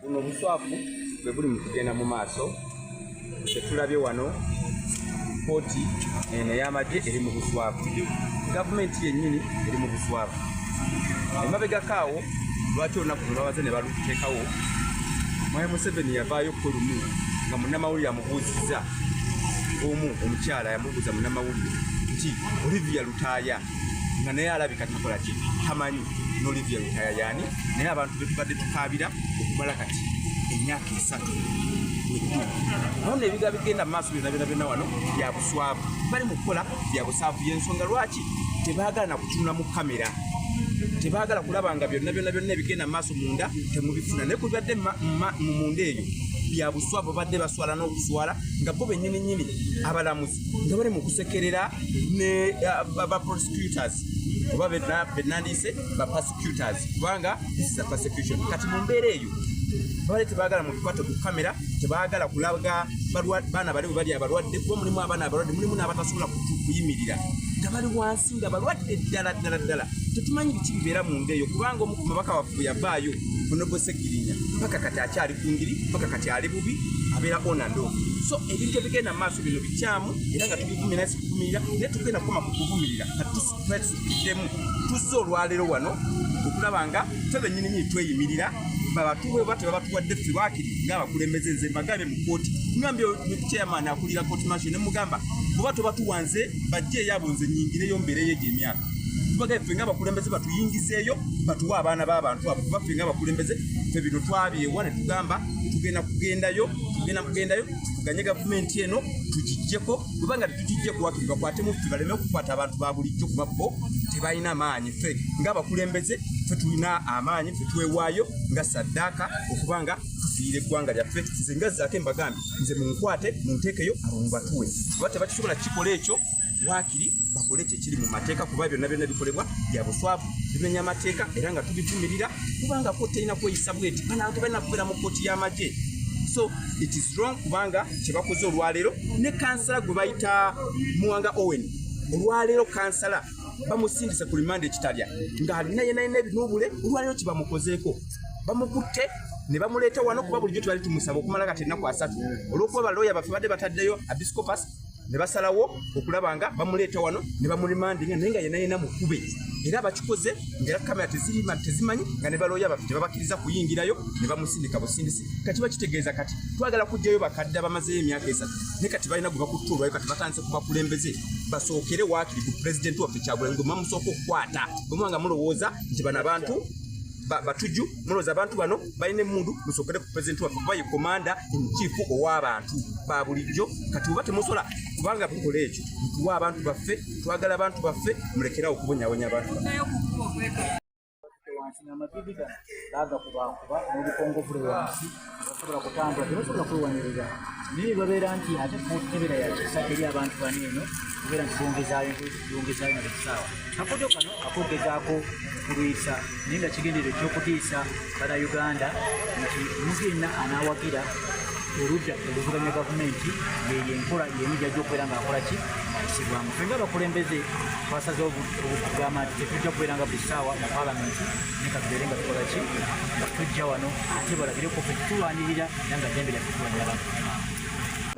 buno obuswafu bwe buli mu kugenda mu maaso kyetulabye wano kooti eno ey'amagye eri mu buswafu gavumenti yennyini eri mu buswafu emabegako awo lwaki olunaku lwe babaze ne baluteekawo mwami museveni yavaayo kko lumu nga munnamawulire amubuuzizza omu omukyala yamubuuza munnamawulire nti olivia lutaaya nga naye alabika takola ki tamanyi nolivia lutaya yani naye abantu betubadde tukabira okumala kati emyaka esatu nona ebiga bigenda mumaaso byona byona byona wano byabuswavu bali mukukola byabusaavu yensonga lwaki tebagala nakutunula mu kamera tebagala kulaba nga byonna byonna byonna ebigenda mumaaso munda temubifuna naye kubibadde munda eyo byabuswavu badde baswala n'okuswala nga bo bennyini nyini abalamuzi nga bali mu kusekerera ne uh, ba prosecutors oba benandiyise ba persecutors kubanga this is a persecution kati mu mbeera eyo bali tebagala muntu kwata ku kamera tebagala kulaga baana bali bali abalwadde kuba mulimu abaana abalwadde mulimu n'abatasobola kuyimirira nga bali wansi nga balwadde ddala ddala ddala tetumanyi biki bibeera mu nda eyo kubanga omu ku mabaka waffe yavaayo onobosegirinya paka kati akyali ku ngiri paka kati ali bubi abeera onando so ebintu ebigenda mu maaso bino bikyamu era nga tubivumye naye sikuvumirira naye tugenda kukoma ku kuvumirira katusiddemu tuzze olwaleero wano okulaba nga fe bennyini nyini tweyimirira babatuwe oba tebabatuwadde ffe bakiri ngaabakulembeze nze mbagabe mu kooti ngambye chairman akulira kooti masho ne mugamba oba tobatuwa nze bajje eyabo nze nyingireyo mbeereyo egyo emyaka tubaga ffe nga abakulembeze batuyingizeeyo batuwe abaana b'abantu abo kuba ffe nga abakulembeze ffe bino twabyewa ne tugamba tugenda kugendayo tugenda kugendayo tuvuganye gavumenti eno tugijjeko kubanga tetugijje kuwakiri bakwate muffe baleme okukwata abantu ba bulijjo kuba bo tebalina maanyi ffe ngaabakulembeze ffe tulina amaanyi ffe twewaayo nga saddaaka okuba nga tufiire eggwanga lyaffe nze nga zaako embagambi nze munkwate munteekeyo abo mubatuwe oba tebakisobola kukikola ekyo waakiri bakole ekyo ekiri mu mateeka kuba byonna byonna bikolebwa bya buswavu bimenya amateeka era nga tubivumirira kubanga kooti erina kweyisa bweti banange balina kubeera mu kooti y'amagye so it is wrong kubanga kyebakoze olwaleero ne kansala gwe bayita muwanga owen olwaleero kansala bamusindise ku limanda ekitalya ng'alina yenayina ebinuubule olwaleero kyebamukozeeko bamukutte ne bamuleeta wano kuba bulijjo tubali tumusaba okumala kati ennaku asatu olw'okuba balooya baffe badde bataddeyo abiscopus ne basalawo okulaba nga bamuleeta wano ne bamurimandinga naye nga yena yena mukube era bakikoze ngaera kamera tezimanyi nga ne balooya baffe tebabakiriza kuyingirayo ne bamusindika busindisi kati bakitegeeza kati twagala kujjayo bakadde abamazeyo emyaka esatu naye kati balina gwe bakutta olwayo kati batandise ku bakulembeze basookere waakiri ku pulezidenti waffe kyagulanyi gwe mamusooka okukwata bwemuba nga mulowooza nti bano abantu batuju muloza abantu bano balina emundu musokere ku president waffe kuba ye komanda enkiifu ow'abantu ba bulijjo kati oba temusola kubanga tukola ekyo tuwa abantu baffe twagala abantu baffe mulekerawo okubonyabonya abantu baffe basobola kutambula tebasobola kwewaniriza naye babeera nti ate kukebera yakisa eri abantu bana eno kubeera nti bongezaayo bongezaayo na bukisaawa kakodo kano akogezaako okulwisa naye nga kigendero ekyokutiisa bana uganda nti omuntu yenna anaawagira oludda oluvuganya gavumenti yeyo enkola yemu jajja okubeera nga akola ki ayisibwamu fe nga abakulembeze twasaze okugamba nti tetujja kubeera nga buli saawa mu palamenti ne katubeere nga tukola ki nga tujja wano ate balabire ku okutulwanirira era nga ddembe lyaffe tulwanira bantu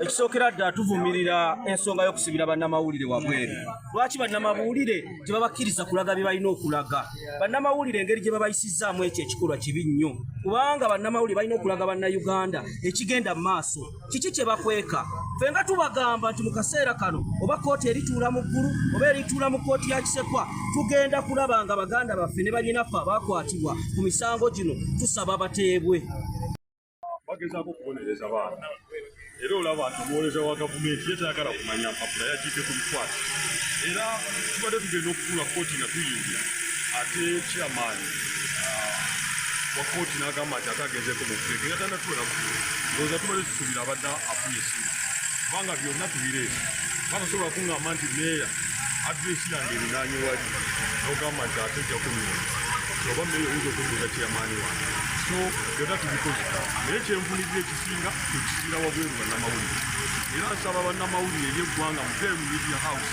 ekisookera ddala tuvumirira ensonga y'okusibira bannamawulire wabweru lwaki bannamawulire tebabakkiriza kulaga bye balina okulaga bannamawulire engeri gye babayisizzaamu ekyo ekikolwa kibi nnyo kubanga bannamawulire balina okulaga bannayuganda ekigenda mu maaso kiki kye bakweka ffe nga tubagamba nti mu kaseera kano oba kkooti erituula mu ggulu oba erituula mu kkooti ya kisekwa tugenda kulaba nga baganda baffe ne banyinaffe abaakwatibwa ku misango gino tusaba bateebwe bagezaako okubonereza baana era olaba nti omuwoleza wa gavumenti ye tayagala kumanya mpapula yagiite ku bikwata era tubadde tugenda okutuula kkooti nga tuyingira ate kyamaanyi wakooti n'agamba nti ate agenzeeko mu kuteeka era tanda tuwera kugula ndowooza tubale tusuubira abadde afunye essimu kubanga byonna tubireeta bakasobola kuŋŋamba nti meeya adresi yange erinaanye wali n'ogamba nti ate ojja kunyuma oba meeya oyinza okubuuza kyeyamaani wange so byonna tubikoze naye kyenvunirira ekisinga ekisiira wabweru bannamawulire era nsaba bannamawulire ery'eggwanga muteemu media house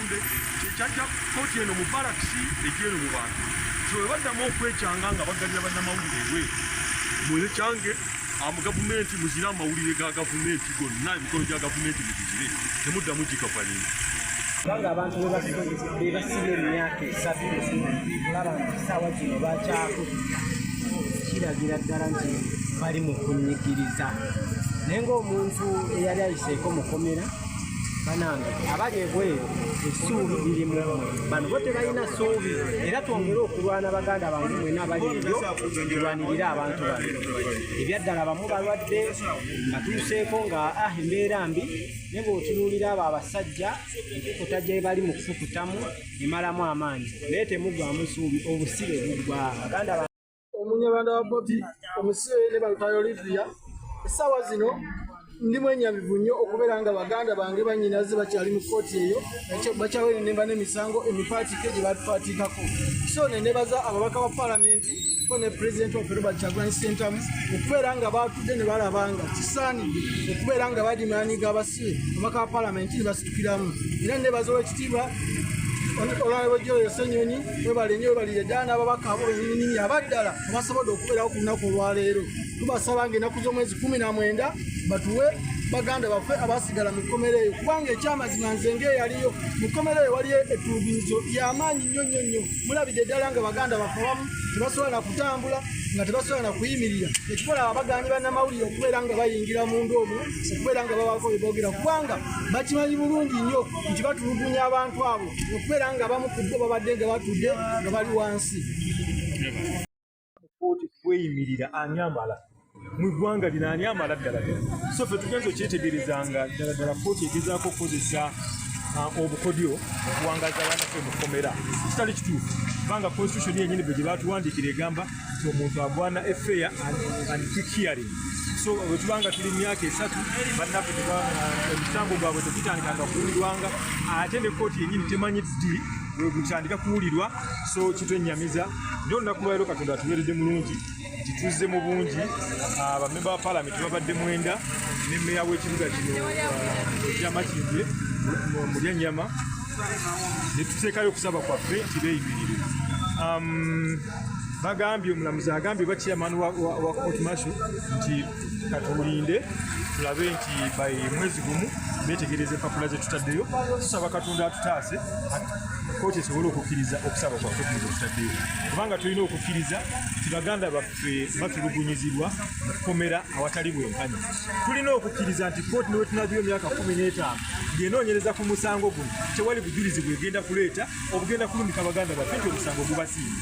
kyajja koti eno mu balakisi egyeno mu bantu so webaddamu okwekyanga nga bagabira bannamawulire ebwe mune kyange amu gavumenti muzire amawulire ga gavumenti gonna emikolo gya gavumenti mugizire temuddamu gikavalimu kubanga abantu bebasiba emyaka esatu olaba nti saawa kino bakyaku kiragira ddala nti bali mu kunyigiriza naye ngaomuntu eyali ayiseeko mukomera banange abali ebweru essuubi liri mu bano bo tebalina ssuubi era twongere okulwana baganda bange mwena abali ebyo tulwanirire abantu bano ebyaddala bamu balwadde batuuseeko nga ah embeera mbi ne bweotunuulira abo abasajja enkukuta gye bali mu kukukutamu emalamu amaanyi naye temugwamu ssuubi obusibe bugwa baganda omunyarwanda wa bobi omusibe ne balutayo olivia essaawa zino ndi mwenyamivu nnyo okubeera nga baganda bange banyinaze bakyali mu kkooti eyo bakyawenenemba n'emisango emipaatike gye batupaatiikako so nenebaza ababaka ba palamenti ko ne pulezidenti waffe robert kyagulanyi sentamu okubeera nga baatudde ne balabanga kisaanidde okubeera nga badimaanyi gabas omubaka wa palamenti nebasitukiramu era nebaza owekitiibwa olwalwejjolo yosenyonyi webale nyo webalire ddala n'ababaka abo benyininyini abaddala abasobodde okubeerawo ku lunaku olwaleero tubasaba nga enaku z'omwezi kumi na mwenda batuwe baganda baffe abasigala mu kkomera eyo kubanga ekyamazima nze ngaeyaliyo mu kkomera eyo waliyo ettulugunyizo lyamaanyi nnyo nnyo nnyo mulabidde ddala nga baganda baffe abamu tebasobola na kutambula nga tebasobola na kuyimirira ekikola abaganyi bannamawulire okubeera nga bayingira munda omwo okubeera nga bawaako bye boogera kubanga bakimanyi bulungi nnyo nti batulugunya abantu abo okubeera nga bamu ku bo babadde nga batudde nga bali wansi kooti kweyimirira ani amala mu ggwanga lino ani amala ddala so fe tugenza okyetegereza nga ddala ddala kooti egezaako okukozesa uh, obukodyo okuwangaza abanafe mu kkomera kitali kituufu kubanga konstitution yenyini bwe gye batuwandiikira egamba nti omuntu agwana efeya and keep hearing so wetubanga tuli myaka esatu bannaffe emisango gwabwe tegitandikanga kuwulirwanga ate ne kooti yenyini temanyi ddi wegutandika kuwulirwa so kitwenyamiza nyo olunaku lwaliro katonda atuberedde mulungi nti tuzze mu bungi bamemba ba palamenti babadde mwenda ne meya w'ekibuga kino ekyamakindye mulyannyama ne tuteekayo okusaba kwaffe nti beeyimirire bagambye omulamuzi agambye oba chairman wa, wa, wa court marshal nti katuwulinde tulabe nti by mwezi gumu betegereza empapula zetutaddeyo tusaba katonda atutaase kooti esobole okukkiriza okusaba kwaffe kuno kwetutaddeyo kubanga tulina okukkiriza nti baganda baffe batulugunyizibwa mu kukomera awatali bwenkanya tulina okukkiriza nti kooti newetunaziyo emyaka kumi n'etaano ng'enoonyereza ku musango guno tewali bujulizi bwegenda kuleeta obugenda kulumika baganda baffe nti omusango gubasiiba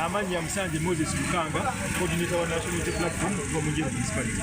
amannya musanje moses lukanga coordinator wa national unity platform omujemunisipality